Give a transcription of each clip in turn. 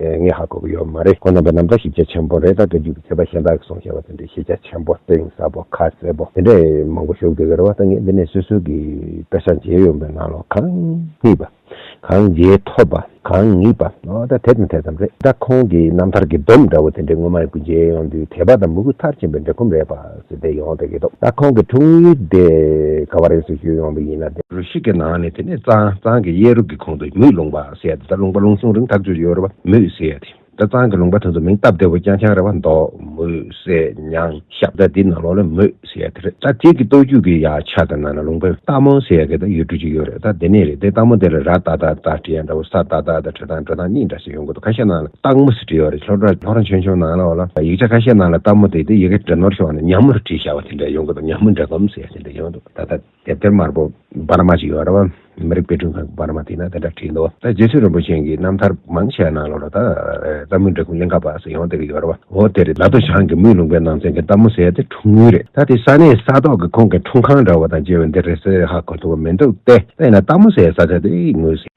ངས་ཧ་གོ་གི་ཡོད་མ་རེད་ཁོ་རྣམ་པས་ནམ་ཟླ་ཤེས་རྒྱ་ཆེན་པོ་རེད་ད་དུས་རྒྱུན་གྱི་ཁྱད་པར་གཞན་དག་གིས་སོང་ཞེས་པ་དེ་འདྲའི་ཤེས་རྒྱ་ཆེན་པོ་གཏིང་ཟབ་པོ་ཁ་གསལ་པོ་དེ་འདྲས་མང་པོ་ཞུགས་འདུག་གི་རེད་བ་ད་ངས་འདི་ནས་སོ་སོ་གི་དཔེ་ཆ་མཇལ་ཡོང་པའི་ནང་ལོ་གང་རྙེད་པ། གང་མཇལ་ཐོབ་པ། གང་ངེས་པ། འོ་ད་དེ་དང་དེ་ཙམ་རེད་ད་ཁོང་གི་རྣམ་ཐར་གྱི་སྡོམ་འདྲ་བོ་དེ་འདྲས་སྔོན་མ་ཡང་ཀུན་མཇལ་ཡོང་དུས་དད་པ་དང་མོས་གུས་མཐར་ཕྱིན་པའི་འབྲེལ་ཁོམ་རེད་པ་ཟེར་བསྡད་ཡོང་བསྡད་ཀྱི་འདུག་ད་ཁོང་གི་འཁྲུངས་ཡུལ་དེ་ག་བ་རེད་ཟེར་ཞུས་ཡོང་བ་ཡིན་ན། རུ་ཤིག་གི་ནང་ནས་དེ་ནས་གཙང་གཙང་གི་གཡས་རུ་གྱི་གོང་དུ་མིག་ལོང་བ། ཟས་དང་ལུང་པ་ལུང་གསུང་རིང་ཐག་གཅོད་ཡོད་རེད་བ་མུས་སེ་ཡ་དེ་ད་ཙང་གི་ལུང་པ་དེ་ཚོ་མིང་སྟབས་བདེ་བོ་རྐྱང་རྐྱང་རེད་བ་འདོག་མུས་སེ་ཉང་ཤབ་ད་དེ་ནང་ལོག་ལེ་མུས་སེ་ཡ་དེ་རེད་ད་དེ་གི་སྟོད་རྒྱུད་གི་ཡ་ཆ་ད་ནང་ན་ལུང་པའི་སྟག་མོ་སེ་ཡ་གི་ད་ཡུལ་གྲུ་གཅིག་ཡོད་རེད་ད་དེ་ནས་རེད་དེ་སྟག་མོ་དེ་ལ་ར་ད་ད་ད་བྲི་ཡ་འདྲ་བོ་ས་ད་ད་ད་བྲི་ཐང་བྲི་ཐང་གཉིས་འདྲ་ཞིག་ཡོང་གི་འདུག་ཁ་ཤས་ནང་ལ་སྟག་མོ་སེ་བྲི་ཡོད་རེད་ལྷོ་ལྷོ་ར་ཆུང་ཆུང་ནང་ལོག་ལ་ཡིག་ཆ་ཁ་ཤས་ནང་ལ་སྟག་མོ་དེ་དེ་ཡི་གེ་བྲི་ནོར་བྱུང་བ་ནི་ཉམས་མོ་རུ་བྲིས་བཞག་བ་དེ་འདྲ་ཡོང་གི་འདུག་ཉམས་མོ་འདྲ་གོམས་སེ་ཡ་དེ་འདྲ་ཡོང་གི་འདུག་ད་ད། དེབ་ཐེར་དམར་པོ་པར་མ་ཅིག་ཡོད་རབས་མི་རིགས་དཔེ་སྐྲུན་ཁང་གི་པར་མ་དེ་ན་དེ་འདྲ་བྲིས་འདུག་ད་རྗེ་བཙུན་རིན་པོ་ཆེན་གྱི་རྣམ་ཐར་མང་ཆེ་བ་ནང་ལོ་རོ་ད་རྩ་དམུ་འབྲི་གུང་གླིང་ཁ་པ་སུ་ཡོང་བསྡད་ཀྱི་ཡོད་རབས་འོ་དེར་ལ་དོ་ཞང་གི་དམུས་ལུང་པའི་ནང་ཚན་གྱི་རྟ་མོ་ཟེར་དེ་འཁྲུངས་ཡུལ་རེད་ད་དེ་ས་གནས་ས་ཐོག་གི་ཁོང་གི་འཁྲུངས་ཁང་འདྲ་བོ་དང་བཅས་པ་འདི་རེད་ཟེར་ཧ་གོ་ཐུབ་པ་མི་འདུག་སྟེ་དེ་ཡིན་ན་རྟ་མོ་ཟེར་ས་ཆ་དེ་ངོས་ཟིན།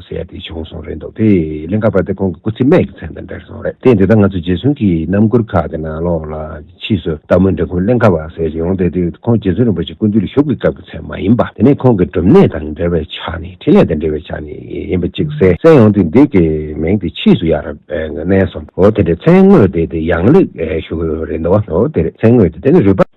ཟེར་ཏེ་བྱུང་སོང་རེད་འདུག་དེ་གླིང་ཁ་པ་དེ་ཁོང་གི་སྐུ་ཚེ་སྨད་ཀྱི་མཚན་དང་འབྲེལ་སོང་རེད་དེ་འདི་ལྟར་ང་ཚོ་རྗེ་བཙུན་གྱི་རྣམ་མགུར་ཁག་གི་ནང་ལོགས་ལ་ཕྱིས་སུ་སྟག་མོ་འབྲི་ཁུང་གླིང་ཁ་པ་ཟེར་བཞིན་ཡོང་སྟེ་དུས་ཁོང་རྗེ་བཙུན་རིན་པོ་ཆེ་སྐུ་དུས་ལ་བཞུགས་པའི་སྐབས་ཀྱི་མཚན་མ་ཡིན་པ་དེ་ནི་ཁོང་གི་སྒྲུབ་གནས་དང་འབྲེལ་བའི་ཆ་ནས་འཕྲིན་ལས་དང་འབྲེལ་བའི་ཆ་ནས་ཡིན་པ་གཅིག་གསལ་གསལ་ཡོང་སྟེ་འདི་གའི་མིང་དེ་ཕྱིས་སུ་ཡར་བསྣན་སོང་འོ་དེ་འདྲའི་མཚན་དངོས་དེ་དེ་ཡང་ལེགས་ཞུ་གི་རེད་འདུག་འོ་དེ་རེད་མཚན་དངོས་དེ་དེ་ནི་རུས་པ།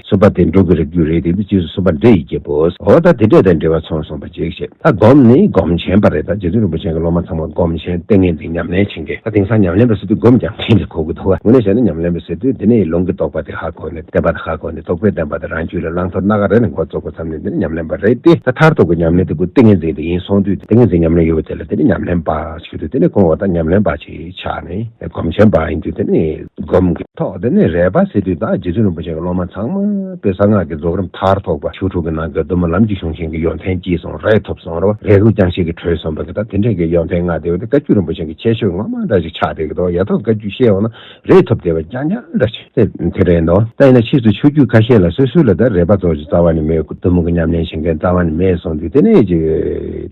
གསོལ་པ་དེ་འགྲོ་གི་རིགས་རྒྱུད་རེད་དེ་འདི་རྗེས་སུ་གསོལ་པ་འདྲེ་ཡིས་འགྱེད་པོ། འོ་ད་དེ་འདྲེ་དང་འདྲེ་བ་ཚོང་སོང་པ་འཇིགས་བྱེད་ད་སྒོམ་ནི་སྒོམ་ཆེན་པ་རེད་ད་རྗེ་བཙུན་རིན་པོ་ཆེན་གྱི་སློབ་མ་ཚང་མ་སྒོམ་ཆེན་ལྟས་ངན་འདི་ཉམས་ལེན་བྱེད་མཁན་ད་དེང་སང་ཉམས་ལེན་པ་ཟེར་དུས་སྒོམ་རྒྱག་མཁན་གྱི་གོ་གི་འདུག་ག་ངོས་ནས་བཤད་ན་ཉམས་ལེན་པ་ཟེར་དུས་འདི་ནི་ལུང་གི་རྟོགས་པ་དེ་ཧ་གོ་ནས་བསྟན་པ་དང་ཧ་གོ་ནས་རྟོགས་པས་བསྟན་པ་དང་རང་རྒྱུད་ལ་བླང་དོར་སྣ་ག་རེ་ནས་མགོ་བཙུགས་པ་ཙམ་ནི་འདི་ནི་ཉམས་ལེན་པ་རེད་དེ་ད་མཐར་ཐུག་གི་ཉམས་ལེན་དེ་ཀུན་ཏིང་ངེ་འཛིན་དེ་ཡིན་སོང་དུས་ཏིང་ངེ་འཛིན་ཉམས་ལེན་ཡོད་པ་དེ་ལ་འདི་ནི་ཉམས་ལེན་པ་ཞིག་དུས་དེ་ནས་གོང་འོ་ད་ཉམས་ལེན་པ་བྱེད། ཆ་ནས་སྒོམ་ཆེན་པ་ཡིན་དུས་དེ་ནས་སྒོམ་གྱི་ཐོག་དེ་ནས་རས་པ་ཟེར་དུས་དང་རྗེ་བཙུན་རིན་པོ་ཆེ་གི་སློབ་མ་ཚང་མ་པོས་གསང་སྔགས་ཀྱི་རྫོགས་རིམ་མཐར་ཐུག་པ་ཞུ་དྲུག་གི་ནང་གི་བདུད་མོ་ལམ་གྱི་གཞུང་ཆེན་གྱི་ཡོན་ཏན་གྱིས་སོང་རས་ཐོབ་སོང་རོ་རས་གུར་རྐྱང་ཞིག་གི་གྲོས་སོང་བ་གི་དང་དེ་འབྲེལ་གྱི་ཡོན་ཏན་ལྔ་དེ་བས་བཀའ་བརྒྱུད་རིན་པོ་ཆེན་གྱི་ཁྱད་ཆོས་ངོ་མ་འདྲ་ཞིག་ཆགས་བསྡད་ཀྱི་འདུག་ཡ་ཐོག་བཀའ་བརྒྱུད་ཤེས་འོང་ན་རས་ཐོབ་དེ་བས་རྐྱང་རྐྱང་འདྲ་ཞིག་དེ་དེ་རེད་འདུག་ད་ཡིན་ན་ཕྱིས་སུ་ཆོས་བརྒྱུད་ཁ་ཤས་ལ་སོ་སོའི་ལ་དྭགས་རས་པ་རྫོགས་ཀྱི་རྩ་བ་ནས་མེད་བདུད་མོ་གི་ཉམས་ལེན་བྱེད་མཁན་རྩ་བ་ནས་མེད་སོང་དུས་དེ་ནས་ཀྱི།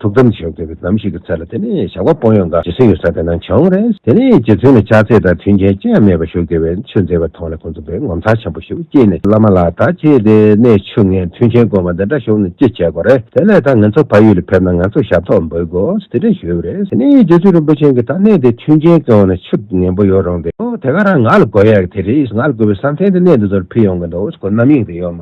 ཐུགས་དམ་བཞེས་དགོས་པའི་ལམ་ཞིག་གི་ཚད་ལ་དེ་ནས་བཞག་པ་པོ་ཡོངས་དང་རྗེ་སེམས་ཡོད་ས་དེ་རྣམས་བྱ་འོང་རེ། དེ་ནས་རྗེ་བཙུན་ལ་ཕྱག་འཚལ་དང་མཐུན་རྐྱེན་ཅི་ཡང་མེད་པར་བཞུགས་དགོས་པའི་ཆོས་མཛད་པ་མཐོང་ནས་ཁོང་ཚོ་པས་ངོ་མཚར་ཆེན་པོ་ཞིག་སྐྱེས་ནས་བླ་མ་ལགས་ད་ཁྱེད་དེ་ནས་ཆུ་ངས་མཐུན་རྐྱེན་དཀོན་པ་འདི་འདྲ་བཞུགས་ནས་ཅི་བྱེད་དགོས་རེ་དེ་ལས་ད་ངེད་ཚོ་ཕ་ཡུལ་ལ་ཕེབས་ན་ང་ཚོ་ཞབས་ཐོག་འབུལ་དགོས་དེ་འདྲ་ཞུས་པ་རེ་དེ་ནས་རྗེ་བཙུན་རིན་པོ་ཆེན་གྱིས་ད་གནས་དེ་མཐུན་རྐྱེན་དཀོན་ནས་ཆུ་ངན་པོ་ཡོད་རུང་དེ་དེ་ག་རང་ང་ལ་དགོས་ཡག་དེ་རེད་ང་ལ་དགོས་པའི་བསམ་གཏན་དེ་གནས་འདི་ཚོར་ཕུལ་ཡོང་གི་འདུག་ཁོ་རྣམ་གཡེང་དེ་ཡོད་མ།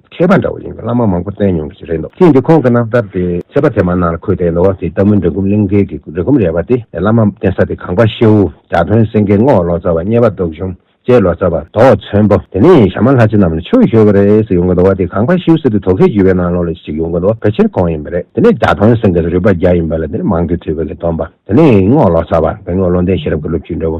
མཁས་པ་འདྲ་བོ་ཡིན་པའི་བླ་མ་མང་པོ་བསྟེན་མྱོང་གི་རེད་འདུག་ཅིས་འདི་ཁོང་གི་རྣམ་ཐར་དེ་མཁས་པ་དེ་མ་ནང་ལ་འཁོད་དེ་ལོ་བ་དེའི་ལྟ་མུན་འདྲེ་འགུམ་གླིང་མཁན་གྱི་འདྲེ་འགུམ་རལ་པ་དེ་བླ་མ་བསྟེན་ས་དེ་གངས་པ་ཤེའུ་དགྲ་དཔོན་སེང་གེ་རྔོག་ལོ་ཙཱ་བ་སྙེ་བ་རྡོ་གཞུང་བཅས་ལོ་ཙཱ་བ་རྡོ་ཚོན་པོ་དེ་ནས་ཞྭ་དམར་ལྷ་རྗེ་རྣམས་ལ་ཆོས་ཞུ་བ་རེད་ཟེར་ཡོང་གི་འདུག་བ་དེ་གངས་པ་ཤེའུ་ཟེར་དུས་དོ་ཁལ་བརྒྱུད་པའི་ནང་ལོགས་ལ་ཞིག་ཡོང་གི་འདུག་བ་ཕལ་ཆེར་གོང་ཡིན་པ་རེད་དེ་ནས་དགྲ་དཔོན་སེང་གེ་རུས་པ་བརྒྱ་ཡིན་པ་ལ་དེ་ནས་མང་གི་དུས་བོད་ཀྱི་སྟོན་པ་དེ་ནས་རྔོག་ལོ་ཙཱ་བ་དེ་རྔོག་བློ་ལྡན་ཤེས་རབ་ཀྱི་སློབ་བརྒྱུད་འདྲ་བོ།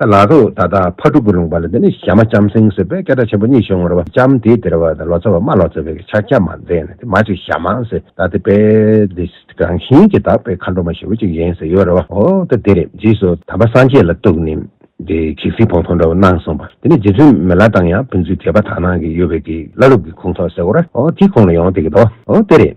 ལ་སོགས་ད་ལྟ་ཕ་དྲུག་གི་ལུང་པ་ལ་འདི་ནི་ཞྭ་མ་ལྕམ་སྲིང་ཟེར་བས་སྐད་སྒྲ་ཆེན་པོ་གཉིས་བྱུང་ངོ་ར་བ་ལྕམ་དེའི་དེར་བ་ལོ་ཙཱ་བ་མ་ལོ་ཙཱ་བའི་ཕྱག་རྒྱ་མ་མཛད་ན་དེ་མ་ཅིག་ཞྭ་མ་ཟེར་ད་དེ་པས་འདི་རང་བཞིན་གྱིས་དག་པའི་མཁའ་འགྲོ་མ་ཞེ་བོ་ཅིག་ཡིན་ཟེར་ཡོད་ར་བ་ཨོ་ད་དེ་རེད་རྗེས་སུ་དམ་པ་སངས་རྒྱས་ལ་གཏུགས་ནས་དེ་གེགས་སེལ་བོང་ཐོག་འདྲ་བོ་གནང་གསུངས་པ་དེ་ནི་རྗེ་བཙུན་མི་ལ་དང་ཡང་ཕན་ཚུན་དད་པ་དག་སྣང་གི་ཡོད་པས་དེའི་བླ་རུབ་ཀྱི་ཁུངས་ཐོག་ཟེར་གོ་ར་ཨོ་དེའི་ཁོང་ལ་ཡོང་དེ་གི་དོ་ཨོ་དེ་རེད།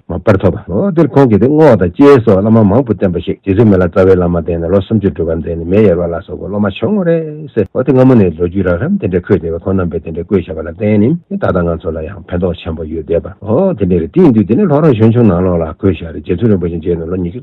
མ་པར་ཐོབ། ལོ་དེར་ཁོང་གིས་ཏེ་བསྔོ་བ་དང་སྐྱེས་སོགས་བླ་མ་མང་བོ་བསྟེན་པ་ཞིག་རྗེ་བཙུན་མི་ལ་རྩ་བའི་བླ་མ་བསྟེན་ནས་ལོ་སུམ་ཅུར་འགྲུལ་བ་མཛད་ནས་མེ་ཡེར་བ་ལ་སོགས་པའི་སློབ་མ་བྱུང་ངོ། རེས་འོ་དེ་སྔ་མོ་ནས་ལོ་རྒྱུས་རགས་རམ་དེ་འདྲས་འཁོད་བསྡད་པས་ཁོང་རྣམ་པས་དེ་འདྲས་བཀོད་བཞག་པ་ལ་བརྟེན་ནི་ད་ལྟ་ང་ཚོ་ལ་ཡང་ཕན་ཐོགས་ཆེན་པོ་ཡོད་བསྡད་པ། འོ་དེ་འདྲས་རེད་དེ་ཡིན་དུས་དེ་ནས་ལྷོ་རོང་གཞོན་ཆུང་ནང་ལོགས་ལ་བཀོད་བཞག་རེད་རྗེ་བཙུན་རིན་པོ་ཆེ་མཇལ་ནས་ལོ་ཉི་ཤུ།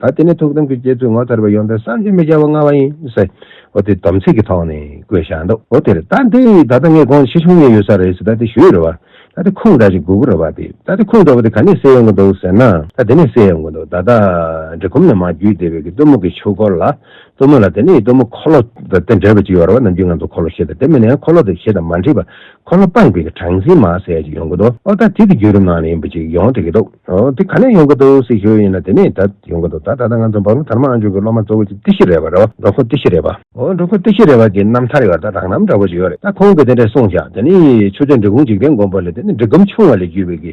ད་དེ་ནས་ཐུགས་དམ་གྱི་བསྐྱེད་ཚུལ་ངོ་མཚར་བའི་ཡོན་ཏན་བསམ་གྱིས་མི་ཁྱབ་པ་མངའ་བ་ཡིན། ཟེར་དེ་དམ་ཚིག་གི་ཐོག་ནས་བཀོད་བཞག་འདུག་འོ་དེར་ད་དེ་ད་ལྟ་ངས་དགོངས་ཕྱི་ཆུང་ངེ་ཡོད་ས་རེད་ཟེར་ད་དེ་ཞུས་རེད་བ། ད་དེ་ཁུངས་དྲག་ཅིག་དགོས་ཀྱི་རེད་བ་དེ་ད་དེ་ཁུངས་དྲག་པོ་དེ་ག་ནས་སེལ་ཡོང་གི་འདུག་ཟེར་ན། ད་དེ་ནས་སེལ་ཡོང་གི་འདུག་ད་ལྟ་འབྲི་གུམ་ནས་མ་བརྒྱུད་དེ་བས་ཀྱི་གཏུམ་མོ་གི་ཆུ་སྐོར་ལ། གཏུམ་མོ་ལ་དེ་ནས་ཡི་གཏུམ་མོ་འཁོར་ལོ་དང་དེ་འདྲ་བའི་ཅིག་ཡོད་རེད་བ་ནམ་རྒྱུན་ང་ཚོ་འཁོར་ལོ་ཞེས་དང་དེ་མིན་ན་ཡང་འཁོར་ལོ་དེ་ཞེས་དང་མ་འདྲིས་པར་ཁོ་ལ་སྤངས་པའི་གྲངས་ཚིག་མ་ཟད་ཅིག་ཡོང་གི་འདུག་ཨོ་ད་དེ་དེ་རྒྱུད་རིམ་ནང་ལ་ཡིན་པ་ཅིག་ཡོང་བསྡད་ཀྱི་འདུག་དེ་ག་ནས་ཡོང་གི་འདུག་ཟེར་ཞོར་ཡིན་ན་དེ་ནས་ད་ཡོང་གི་འདུག་ད་ད་ལྟ་ང་ཚོ་འབའ་ལུང་དར་མ་ཨ་མཆོག་གི་སློབ་མ་གཙོ་བོ་ཅིག་ཏི་ཤི་རེ་བ་རེད་བ་འབྲོག་ཁོ་ཏི་ཤི་རེ་བ། འོ་འབྲོག་ཁོ་ཏི་ཤི་རེ་བ་དེའི་རྣམ་ཐར་ཡོད་ད་རག་ནམ་འདྲ་བོ་ཅིག་ཡོད་རེད་ད་ཁོང་གིས་དེ་འདྲ་གསུངས་བཞག་དེ་ནི་ཆུ་ཚོད་འབྲི་གུང་འཇིག་རྟེན་མགོན་པོ་ལས་དེ་ནི་འབྲི་གུམ་ཆུང་བ་ལས་བརྒྱུད་པའི་གི་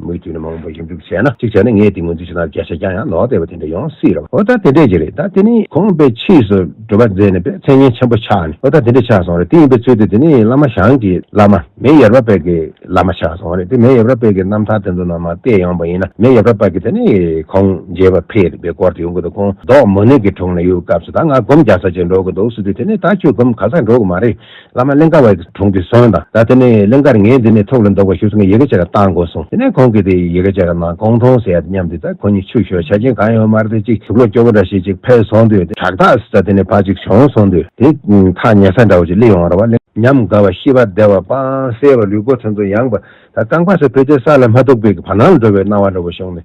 མུ་མཐུད་ནས་མང་པོ་ཞིབ་འཇུག་བྱས་ན། གཅིག་བྱས་ན་ངས་དེ་ངོས་འཛིན་བྱེད་སྟངས་བརྒྱ་ཆ་བརྒྱ་ཡང་ལོག་སྟེ་བ་དེ་འདྲ་ཡོང་སྲིད་རོ། ཨོ་ད་དེ་འདྲས་ཀྱི་རེད་ད་དེ་ནི་ཁོང་པས་ཕྱིས་སུ་བྲོ་བ་མཛད་ནས་པས་མཚན་སྙན་ཆེན་པོ་ཆགས་ནས་ཨོ་ད་དེ་འདྲས་ཆགས་སོང་རེད་དེ་ཡིན་པའི་ཚུལ་དུ་དེ་ནི་བླ་མ་ཞང་གི་བླ་མ་མེ་ཡབ་ར་པད་ཀྱི་བླ་མ་ཆགས་སོང་རེད་དེ་མེ་ཡབ་ར་པད་ཀྱི་རྣམ་ཐར་དེ་ཚོ་ནང་མ་བལྟས་ཡོང་པ་ཡིན་ན་མེ་ཡབ་ར་པད་ཀྱི་དེ་ནི་ཁོང་མཇལ་བར་ཕེབས་རེད་པའི་སྐོར་དེ་ཡོང་གི་འདུག་ཁོང་རྡོག་མོ་ནུས་ཀྱི་དྲུང་ནས་ཡོད་སྐབས་སུ་ད་ང་སྒོམ་རྒྱག་ས་ཅིག་འགྲོ་གི་འདུག་སྲིད་དུས་དེ་ནི་ད་ཁྱོད་སྒོམ་ག་ས་འགྲོ་གི་མ་རེད། བླ་མ་གླིང་ཁ་བ་ཡིས་དྲུང་དུ་སོང་དང། ད་དེ་ནས་གླིང་ཁར་ངས་འདི་ནས་ཐུགས་ལ་འདོགས་པ་ཞུ་གསུང་གིས་ཡི་གེ་ཆེ་ར་བཏང་དགོས་གསུང། དེ་ནས་ཁོང་གིས་དེ་ཡི་གེ་ཆེ་ར་ནང་གང་མཐོང་ཟེར་ཡ་དེ་སྙམ་དེ་ལྟར་ཁོང་གཉིས་ཆུ་ཞོ་བྱ་ཁྱིམ་གང་ཡོད་མར་དེ་གཅིག་གྲུ་ལོ་སྐྱོ་བོ་འདྲ་ཞིག་ཅིག་ཕེབས་སོང་དུས་དེ་བྲག་ཐག་ཟེར་དེ་ནས་ཕར་ཅིག་བྱོན་སོང་དུས་དེ་ཐག་ཉེ་ས་འདྲ་བོ་ཅིག་བསླེས་འོང་ར་བ། ཉམས་དགའ་བ་ཤི་བ་བདེ་བ་དཔང་གསལ་བ་ལུས་པོ་ཐོན་ཚོ་ཡངས་པ། ད་རྐང་པ་སོགས་ཕུད་དེ་ས་ལ་མ་ཐུག་པའི་བར་སྣང་ལ་འགྲོ་བའི་སྣང་བ་འདྲ་བོ་བྱུང་ནས་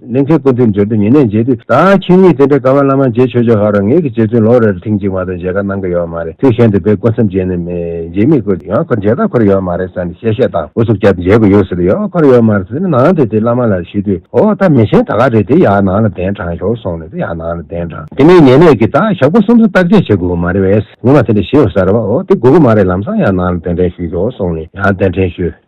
གླིང་ཚའི་སྐུ་མདུན་འབྱོར་དུས་ཉེ་གནས་མཇལ་དུས་ད་ཁྱེད་གཉིས་དེ་འདྲའི་ཀ་བ་བླ་མ་མཇལ་ཆོས་ཆོས་ཧ་རོ་ངེད་ཀྱི་རྗེ་བཙུན་ལོ་རེར་ཐེངས་གཅིག་མ་གཏོགས་མཇལ་ཁ་གནང་གི་ཡོད་མ་རེད་དུས་གཞན་དུ་བེ་སྐུ་མཚམས་བརྒྱད་ནས་མཇལ་མི་དགོས་ཡང་ཁོ་མཇལ་དར་འཁོར་ཡོད་མ་རེད་ས་ནས་གཤེ་གཤེ་དང་ཨུ་ཚུགས་བརྒྱབ་མཇལ་དགོས་ཡོད་ཟེར་ཡང་འཁོར་ཡོད་མ་རེད་ཟེར་ནས་ནང་དུ་དེ་བླ་མ་ལ་ཞུས་དུས་ཨོ་ད་མི་ཆེན་ད་ག་རེད་དེ་ཡག་ནང་ལ་གདན་དྲངས་ཞོར་སོང་ནས་དེ་ཡག་ནང་ལ་གདན་དྲངས་དེ་ནས་ཉེ་གནས་ཀྱི་ད་ཞབས་སྐུ་གསུམ་གསུམ་བརྟག་དཔྱད་བྱེད་དགོས་གི་མ་རེད་བས་ངོ་མ་དེ་འདྲ་ཞེས་ཡོད་ས་རེད་བ་ཨོ་དེ་དགོས་གི་མ་རེད་ལམ་སང་ཡང་ནང་ལ་གདན་འདྲེན་ཞུས་ཞོར་སོང་ནས་ཡང་གདན་འདྲེན་ཞུས།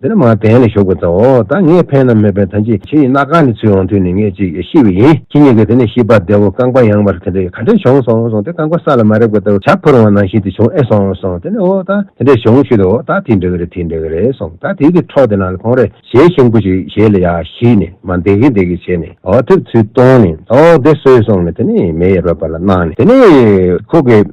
འདི་ལ་མ་བརྟེན་ལས་ཞོག་པའི་རྩ་འོ། ད་ངས་ཕན་ནམ་མི་ཕན་ཐམས་ཅད་ཁྱེད་ཡི་ན་གང་ནས་ཚུད་འོང་དུས་ནི་ངས་ཅིག་ཤི་བས་ཡིན། ཁྱེད་གཉིས་ཀྱིས་དེ་ནས་ཤི་བར་བདེ་བོ་རྐང་པ་ཡངས་པར་དེ་འདྲས་ག་འདྲས་བྱུང་སོང་སོང་སྟེ་རྐང་པ་ས་ལ་མ་རེག་པ་ལྟ་བུ་བྱ་འཕུར་འོང་ནང་བཞིན་དུ་བྱུང་ཨེ་སོང་སོང་དེ་ནས་འོ་ད་དེ་འདྲས་བྱུང་ཤི་འོ་ད་དེའི་འདྲ་གི་རེད་དེའི་འདྲ་གི་རེད་སོང་ད་དེའི་གི་འཕྲོག་དེ་ནང་ལ་ཁོང་རེ་ཞེས་ཤིང་བུ་ཞིག་བཞེས་ལ་ཡ་ཤི་ནས་མ་འདེགས་གི་འདེགས་གི་བྱས་ནས་འོ་ཐེབས་ཚུལ་བཏོན་ནས་འོ་བདེ་གསོལ་སོང་ནས་དེ་ནས་མེ་ཡར་བབས་པ་ལ་གནང་ནས་དེ་ནས་ཁོ་གིས།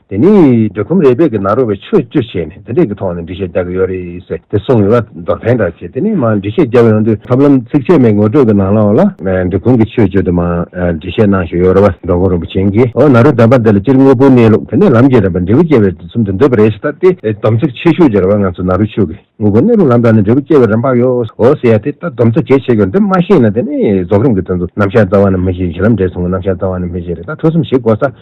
དེ་ནས་འབྲི་ཁུམ་རས་བལ་གྱི་ནང་རོ་བའི་ཆོས་བཅུ་བྱས་ནས་དེ་འདྲས་ཀྱི་ཐོག་ནས་འབྲི་བཤད་རྒྱག་གི་ཡོད་རེད་ཟེར་ཏེ་གསུངས་ཡོད་པ་མདོར་ཕན་དྲག་བྱས་དེ་ནས་མང་འབྲི་བཤད་རྒྱབ་ཡོང་དུས། ཐབས་ལམ་ཚིགས་བཅད་མའི་ངོ་སྤྲོད་ཀྱི་ནང་ལའོ་ལ། འབྲི་ཁུམ་གྱི་ཆོས་བཅུ་དེ་མང་འབྲི་བཤད་གནང་བཞིན་ཡོད་རེད་བ་འགྲོ་མགོན་རིན་པོ་ཆེན་གྱིས་ཨོ་ན་རོའི་དམ་པ་འདི་ལ་སྤྱིར་དངོས་པོའི་གནས་ལུགས་དེ་ནས་ལམ་གྱི་རིམ་པ་འབྲས་བུ་སྐྱེ་བའི་དུས་གསུམ་དུ་འདོད་པ་རེད་ཞེས་བཏགས་ཏེ་སྡོམ་ཚིག་ཆེ་ཤོས་ཀྱི་རེ་བ་ང་ཚོ་ན་རོའི་ཆོས་ཀྱི་དངོས་པོའི་གནས་ལུགས་ལམ་དྲངས་ནས་འབྲས་བུ་སྐྱེ་བའི་རིམ་པ་ཡོའོ་ཟེར་ཡ་དེ་ལྟར་སྡོམ་ཚིག་གལ་ཆེ་ཤོས་འདི་མ་ཤེས་ན་དེ་ནས་རྫོགས་རིམ་གྱི་དོན་དུ་རྣམ་གཞག་རྩ་བ་ནས་མི་ཤེས་བཞིན་ལམ་འབྲས་ཟུང་གི་རྣམ་གཞག་རྩ་བ་ནས་མི་ཤེས་རེད་ད་ཐོས་བསམ་ཞིག་གོ་ས་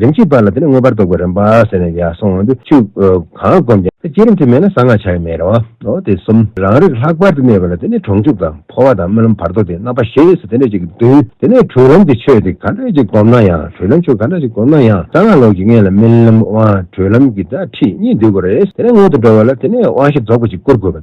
རིམ་གྱིས་སྤར་ལ་དེ་ནས་མངོན་པར་རྟོགས་པའི་རིམ་པ་ཟེར་ནས་ཡར་སོང་དུ་ཆུག། གང་བསྒོམས་ཀྱང་དེ་བསྐྱེད་རིམ་དུ་མེད་ན་གསང་སྔགས་བྱ་བའི་མེད་རོ། དེ་གསུམ་རང་རིག་ལྷག་པར་དུ་གནས་པ་ལ་དེ་ནས་གྲོང་འཇུག་དང་འཕོ་བ་དང་རྨི་ལམ་བར་དོ་སྟེ་རྣམ་པ་ཞེས་སུ་དེ་འདྲ་ཅིག་གིས་བསྡུས། དེ་ནས་གྲོལ་ལམ་གྱི་ཆོས་དེ་ག་འདྲ་ཅིག་བསྒོམ་ན་ཡང་གྲོལ་ལམ་ཆོས་ག་འདྲ་ཅིག་བསྒོམ་ན་ཡང་གསང་སྔགས་ལོགས་ཀྱི་ངེས་ལ་རྨི་ལམ་དབང་གྲོལ་ལམ་གྱི་སྒྲ་ཁྲིད་གཉིས་འདུས་དགོས་རེད། དེ་ནས་སྔོན་དུ་འགྲོ་བ་ལ་དེ་ནས་དབང་བཞི་རྫོགས་པ་ཅིག་བསྐུར་དགོས་པ།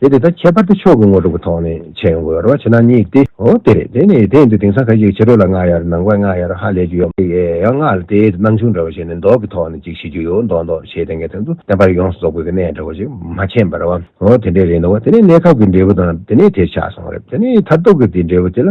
དེ་དེ་དང་ཁྱད་པར་དུ་ཕྱོགས་ཀྱི་ངོ་གྲུབ་ཀྱི་ཐོག་ནས་བྱེད་དགོས་རོ་བྱེད་ན་གཉིས་ཏེ། འོ་དེ་རེད་དེ་ནི་དེ་ཡིན་དུས་དེང་སང་ཁ་ཅིག་ཕྱི་རོལ་ལ་སྔགས་ཡར་ནང་པའི་སྔགས་ཡར་ཧ་ལས་རྒྱུ་ཡོད་མ་རེད་ཡང་སྔགས་ལ་དེའི་སྣང་ཆུང་འདྲ་བོ་ཞིག་ནི་མདོག་གི་ཐོག་ནས་ཅིག་ཤེས་རྒྱུ་ཡོད་མདོག་མདོག་ཞེས་དེ་འགའི་དོན་དུ་བསྟན་པར་ཡོངས་སུ་རྫོགས་དགོས་ཀྱི་གནད་འདྲ་བོ་ཞིག་མ་མཁྱེན་པར་བ། འོ་དེ་འདྲའི་རེད་འདུག་བ་དེ་ནི་གནས་སྐབས་ཀྱི་འབྲས་བུ་དང་དེ་ནས་དེ་ཆགས་སོང་རེད་དེ་ནི་མཐར་ཐུག་གི་དེའི་འབྲས་བུ་དེ་ལ་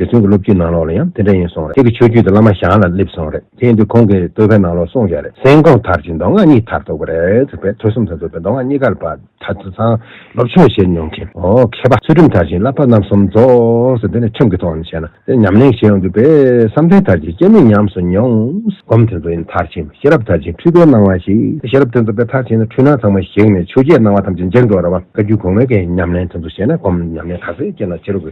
རྗེ་བཙུན་གྱི་སློབ་བརྒྱུད་ནང་ལོགས་ལ་ཡང་དེ་འདྲ་ཡིན་སོང་རེད་ཁྱེད་ཀྱི་ཆོས་བརྒྱུད་དུ་བླ་མ་ཞང་ལ་སླེབས་སོང་རེད་དེ་ཡིན་དུས་ཁོང་གིས་བསྟོད་པའི་ནང་ལོགས་གསུངས་བཞག་རེད་སེང་གོང་དར་གྱི་མདོ་སྔགས་གཉིས་དར་གཏོགས་པ་རེད་ཟེར་པས་ཐོས་གསུམ་དང་རྫོགས་པའི་མདོ་སྔགས་གཉིས་ཀར་པ་ད་ཆ་ཚང་སློབ་ཆོས་བྱེད་མྱོང་མཁན་ཨོ་མཁས་པ་ཚུལ་ཁྲིམས་དར་གྱིས་བསླབ་པ་རྣམ་གསུམ་རྫོགས་ཟེར་དེ་ནི་ཁྲིམས་ཀྱི་ཐོག་ནས་བྱས་ན་དེ་ཉམས་ལེན་བྱེད་ཡོང་དུས་པས་བསམ་གཏན་དར་གྱིས་སྐྱེ་མེད་ཉམས་སུ་མྱོང། སྒོམ་དེ་ཚོ་ཡིན་དར་གྱིས་ཤེས་རབ་དར་གྱིས་འཁྲུལ་པའི་སྣང་བ་ཞིག་དེ་ཤེས་རབ་དེ་ཚོ་པས་དར་གྱིས་ནི་འཁྲུལ་སྣང་ཚང་མ་ཞིག་ནས་ཆོས་བརྒྱད་སྣང་བ་ཐམས་ཅད་འཇིག་འགྲོ་ར་བ་བཀའ་བརྒྱུད་གོང་མའི་གའི་ཉམས་ལེན་དེ་ཚོ་བྱས་ན་སྒོམ་ཉམས་ལེན་ག་ཚོད་སྐྱེ་ན་ཕྱི་རོལ་གྱི།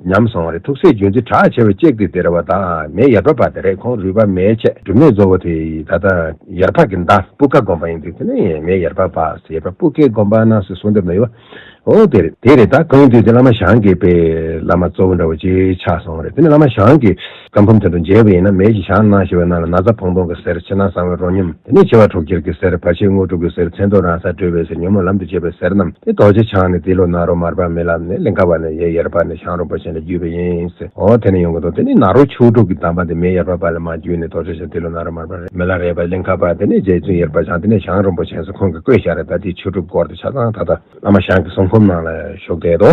ཉམས་སོང་བ་རེད་ཐུགས་སྲས་རྒྱུན་འཛིན་གྲགས་ཆེ་བས་གཅེས་ཀྱི་དེ་རེད་བ་དང་མེ་ཡར་འབབ་པ་དེ་རེད་ཁོང་རུས་པ་མེའི་ཆེད་སྒྲུབ་གནས་གཙོ་བོ་དེ་ཡིན་ད་ལྟ་ཡར་འཕགས་ཀྱི་མདའ་སྤུ་ཀ་དགོན་པ་ཡིན་འདུག་དེ་ནས་མེ་ཡར་འབབ་པ་ཟེར་བ་སྤུ་ཀའི་དགོན་པ་ནང་སོ་སོ་འདེབས་ན་ཡོད་བ་འོ་དེ་རེད་དེ་རེད་ད་གང་ཡིན་དུས་དེ་བླ་མ་ཞང་གི་པའི་བླ་མ་གཙོ་བོ་འདྲ་བོ་གཅིག་ཆགས་སོང་བ་རེད་དེ་ནས་བླ་མ་ཞང་གི། ཀ་འཕུམ་དེ་དང་མཇལ་བ་ཡིན་ན་མལ་གྱི་ཞག་སྣང་ཞེས་པའི་ནང་ལ་ན་བཟའ་བོང་སྟོང་གི་གསེར་ཕྱི་ནང་གསང་བའི་རོ་སྙོམས་དེ་ནས་བྱེ་བ་དྲུག་ཁྱེར་གྱི་གསེར་བར་ཆད་དངོས་དྲུག་གི་གསེར་མཚན་རྡོ་རང་སར་གྲོལ་བའི་གསེར་ཉོན་མོངས་ལམ་དུ་བྱེད་པའི་གསེར་རྣམས་ཏེ་རྡོ་རྗེ་འཆང་ནས་ཏི་ལོ་ནཱ་རོ་མར་པ་མི་ལབ་ནས་ལིང་ག་བ་ནས་ཡེ་ཡར་པ་ནས་ཤངས་རོག་པ་བྱིན་ལ་བརྒྱུས་པ་ཡིན། འོ་དེ་ནས་ཡོང་གི་འདུག་དེ་ནས་ནཱ་རོ་ཆོས་དྲུག་གི་གདམས་པ་འདི་མེ་ཡར་པ་པ་ལ་མ་བརྒྱུས་ནས་རྡོ་རྗེ་འཆང་ཏི་ལོ་ནཱ་རོ་མར་པ་རེད་མི་ལ་རེད་པ་ལིང་ག་བ་དེ་ནས་རྗེ་བཙུན་ཡར་པ་འཆང་དེ་ནས་ཤངས་རོག་པ་བྱིན་སོགས་ཁོང་གི་བཀོད་བཞག་རེད་ད་དེའི་ཆོས་དྲུག་སྐོར་དེ་ཆ་ཚང་ད་ལྟ་བླ་མ་ཞང་གི་གསུང་འཁུམ་ནང་ལ་བཞུགས་བསྡད་དོ།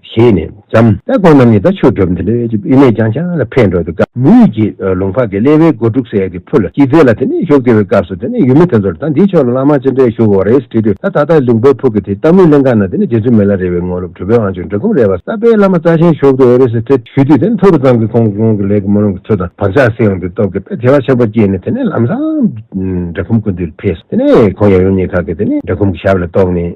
བཞེས་ནས་བརྩམ། ད་དགོན་རྣམས་ནི་ད་ཆོས་སྒྲུབ་འདི་ལོའི་དབྱིབས་ནས་ཀྱང་ཆ་ལ་འཕེལ་འགྲོ་འདུག་ད་མུ་ཡུ་གྱི་ལུང་ཕག་གི་ཀླད་པའི་སྒོ་དཀྲུགས་སེ་གི་ཕུ་ལ་སྐྱིད་རྫས་ལ་དེ་ནས་ཞོག་ཟེར་བའི་སྐབས་སུ་དེ་ནས་ཡུལ་མི་དེ་ཚོར་ད་འདིའི་ཕྱོགས་ལ་བླ་མ་ཅི་འདྲས་བཞུགས་འོང་རེས་དྲིས་དུས་ད་ད་ལྟ་ལུང་པའི་ཕུག་གི་དེ་ལྟ་མུས་ལེན་ཁང་ན་དེ་ནས་རྗེ་བཙུན་མི་ལ་རེ་བའི་དངོས་སློབ་གྲུབ་པའི་དབང་ཆོག་འབྲི་གུང་རས་པ་གསར་པའི་བླ་མ་རྩ་ཆེན་ཞོག་ཏུ་འོས་རེས་དྲིས་ཞུས་དུས་དེ་ནས་ཐོ་རུ་ཙམ་གྱི་ཁོང་ཁོང་གི་ལས་ཀྱི་མོ་རང་གི་ཚུལ་དང་བག་ཆགས་སེམས་ཀྱི་སྟོབས་ཀྱིས་དཔེ་དེ་བ་ཆེན་པོ་བསྐྱེད་ནས་དེ་ནས་ལམ་སང་འབྲི་གུང་ཀུན་འདུས་ལ་ཕེབས་སོ་དེ་ནས་ཁོང་ཡབ་ཡུམ་གཉིས་ཁག་གིས་དེ་ནས་འབྲི་གུང་གི་ཞབས་ལ་གཏོགས་ནས།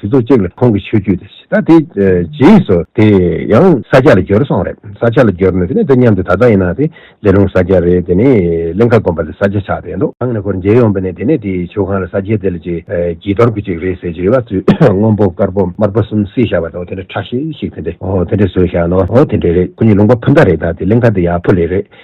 དུས་ཚོད་གཅིག་ལ་ཁོང་གི་ཆོས་བརྒྱུད་དེ་ད་དེ་རྗེས་སུ་དེ་ཡང་ས་སྐྱ་ལ་བསྒྱུར་སོང་རེད་ས་སྐྱ་ལ་བསྒྱུར་ནས་དེ་ནས་འདི་མཉམ་དུ་ད་ལྟ་ཡིན་ན་དེ་ལས་རུང་ས་སྐྱ་རེད་དེ་ནས་གླིང་ཁ་དགོན་པ་ལ་ས་སྐྱ་ཆགས་བསྡད་འདུག་གང་ནས་ཁོར་མཇལ་ཡོང་པ་ནས་དེ་ནས་དེའི་ཆོས་ཁང་ལ་ས་སྐྱའི་དེ་ལ་ཅིག་བགྱིས་གཏོར་དགོས་ཅིག་རེད་ཟེར་གྱི་རེད་བ་དུས་སྔོན་པོ་དཀར་པོ་དམར་པོ་གསུམ་བསྲེས་བཞག་པ་དང་དེ་འདྲ་ཁྲག་ཤེད་ཤིག་དེ་འདྲ་དེ་འདྲ་བཟོས་བཞག་ནའོ་དེ་འདྲ་རེད་ཁོ་གཉིས་ལུང་པ་ཕུ་མདའ་རེད་ད་དེ་གླིང་ཁ་དེ་ཡག་པོ་ལེ་རེད།